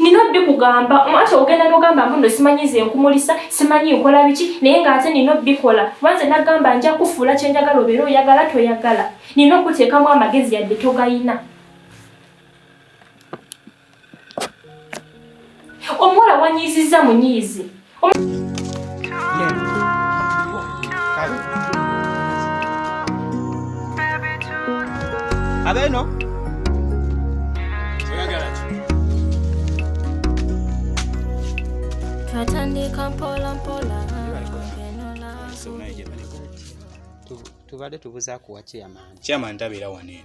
nina obbikugamba anti ogenda nogamba mbu no simanyi nze nkumulisa simanyi nkola biki naye nga ate nina obbikola kuba nze nagamba nja kufuula kyenjagala obeera oyagala toyagala nina okuteekamu amagezi yadde togayina omuwala wanyiiziza munyiizi Abeno. Twatandika mpola mpola. Tubadde tubuzaako wa chairman. Chairman tabeera wano eno.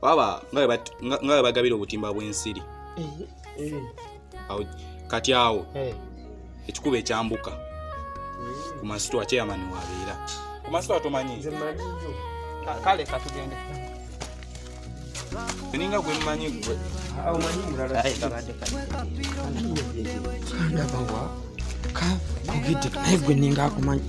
baba nga bwe bagabira obutimba bw'ensiri eh, eh. kati awo eh. ekikuba ekyambuka ku masitwa kyeyamani wabeera ku masitwa tomanyi kale katugende ninga gwe mmanyi gwe kugidde naye gwe ninga akumanyi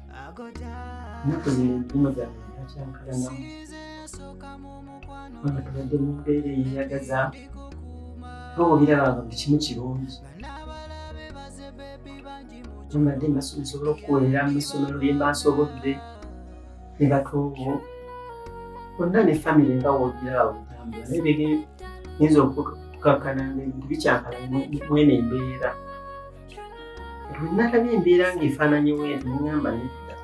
ennaku zino empumu zange zakyankalanamu kubanga tubadde mu mbeera eyeyagaza nga obirabanga buli kimu kirungi mbadde nsobola okukolera mu ssomero lye mba nsobodde ne batuubo bonna ne famiry nga wogirawo otambula naye bege nyinza okukakkana nga ebintu bikyankalana mwene embeera olunalaba embeera ng'efaananyewo eno neŋamba nedda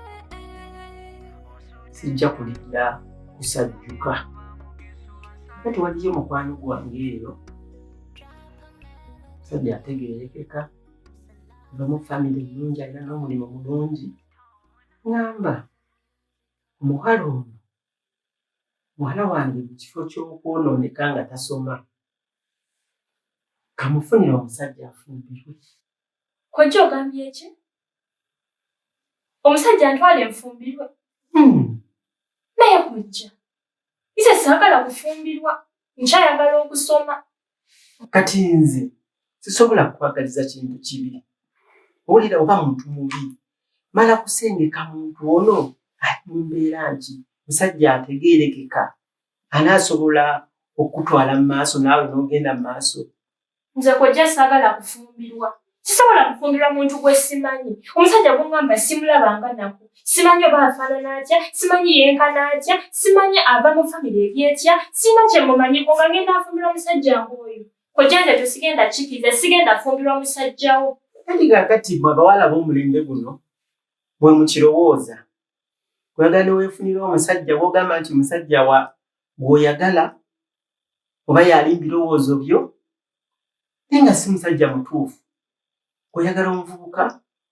sijja kulidda kusajjuka ka tewaliyo mukwano gwange eyo sajja ategeerekeka ava mu famire nnungi alina n'omulimu mulungi ŋamba omuwala ono muwala wange mu kifo ky'okwonooneka nga tasoma kamufunira omusajja afumbirwe kojja ogambye ki omusajja ntwala enfumbirwe hmm. naye kojja nze saagala kufumbirwa nkyayagala okusoma kati nze sisobola kukwagaliza kintu kibi owulira oba muntu mubi mala kusengeka muntu ono ali mu mbeera nti musajja ategeerekeka ani asobola okukutwala mu maaso naawe n'ogenda mu maaso nze kojja saagala kufumbirwa sisobola kufumbirwa muntu gwe simanyi omusajja gungamba simulabanga naku simanyi oba afaanana atya simanyi yenkana atya simanyi ava mu famire eri etya sirina kye mumanyi kunga ngenda afumbirwa musajja ng'oyo kojja nze tesigenda kikiriza sigenda afumbirwa musajjawo kati kakati mwe abawala b'omulembe guno mwe mukirowooza kulaga newefunira omusajja wogamba nti musajja wa gwoyagala oba yali birowoozo byo naye nga si musajja mutuufu oyagala omuvubuka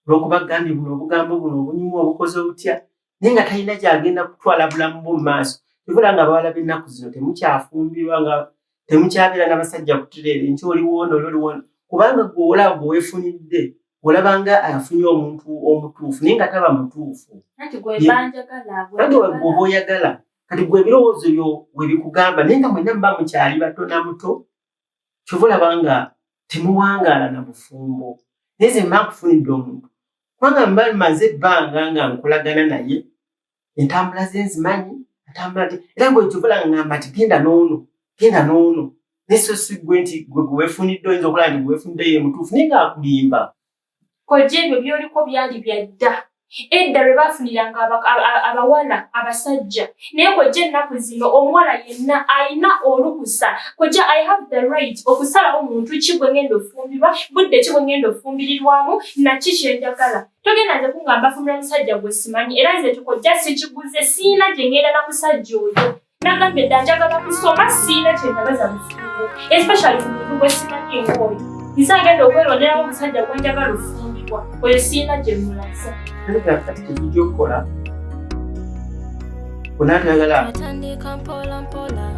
olwokuba gambye buno obugambo buno obunyumu obukozi obutya naye nga talina gyagenda kutwala bulamu bwo mumaaso kivula nga abawala bennaku zino temukyafumbirwa nga temukyabeera nabasajja kutereere nti oliwoona oli oliwoona kubanga gweolaba gwewefunidde olaba nga afunye omuntu omutuufu naye nga taba mutuufu kati gwoba oyagala kati gwe ebirowoozo byo webikugamba naye nga mwena muba mukyali bato na muto kyova olaba nga temuwangaala na bufumbo naye ze mba nkufunidde omuntu kubanga mba maze ebbanga nga nkolagana naye entambula ze nzimanyi atambula nti era gwe kyovola ngamba nti genda n'ono genda n'ono naye so si gwe nti gwe gwewefunidde oyinza okulaba nti gwewefunidde ye mutuufu naye ngaakulimba kojja ebyo byoliko byali bya dda edda lwe baafuniranga abawala abasajja naye kojja ennaku zino omuwala yenna alina olukusa kojja i have the right okusalawo muntu ki gwe ngenda ofumbirwa budde ki gwe ngenda ofumbirirwamu naki kyenjagala togenda nze kungamba fumula musajja gwe simanyi era nze kiko ja sikiguze siina gye ngenda na musajja oyo nagambye dda njagala kusoma siina kye ndabaza mufumbo especially ku muntu gwe simanyi engooyo nze agenda okweronderamu omusajja gwe njagala ofumbibwa oyo siina gye mulaza kati kati kijija okukola onanagala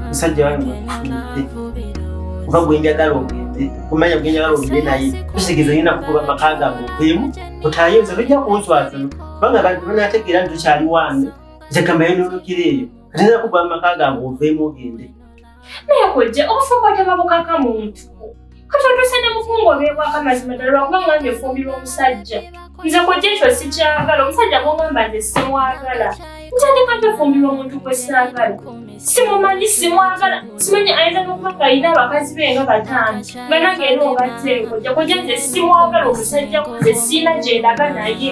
musajja wange kuba gwenjagala ogende kumanya gwenjagala ogende naye tusigeza yina kukuba maka gange okuyemu otayo nze tojja kunswazana kubanga bantu banategeera nti tukyali wange nze kambayo nolokira eyo ate nakuba maka gange oveemu ogende naye kojja obufumbo tebabukaka muntu kati otuuse ne mukungu obeebwako amazima ddala lwakuba nga nge efumbirwa omusajja nze kojja ekyo sikyagala omusajja gwongamba nze simwagala ntandika ntefumbirwa omuntu gwe saagala simumanyi simwagala simanyi ayinza nokuba ngaalina abakazi be nga bataano nga nange era obateekojja kojja nze simwagala omusajja kunze siina gyendaga naye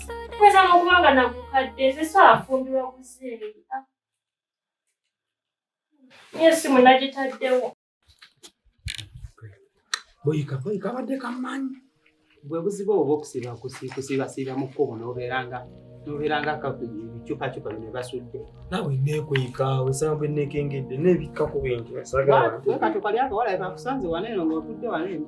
Kweza n'okuba nga nagukadde nze so afumbirwa buzeeyi. Niyo essimu nagitaddewo. Boyika boyika abadde kamanyi. Bwe buzibu obwo okusiba kusiba siba mu kkubo n'obeera nga n'obeera nga ebicupacupa bino basudde. Naawe neekweka wesanga bwe neekengedde neebikka ku bintu. Wekatuka lyako walabe bakusanze wano eno ng'otudde wano eno.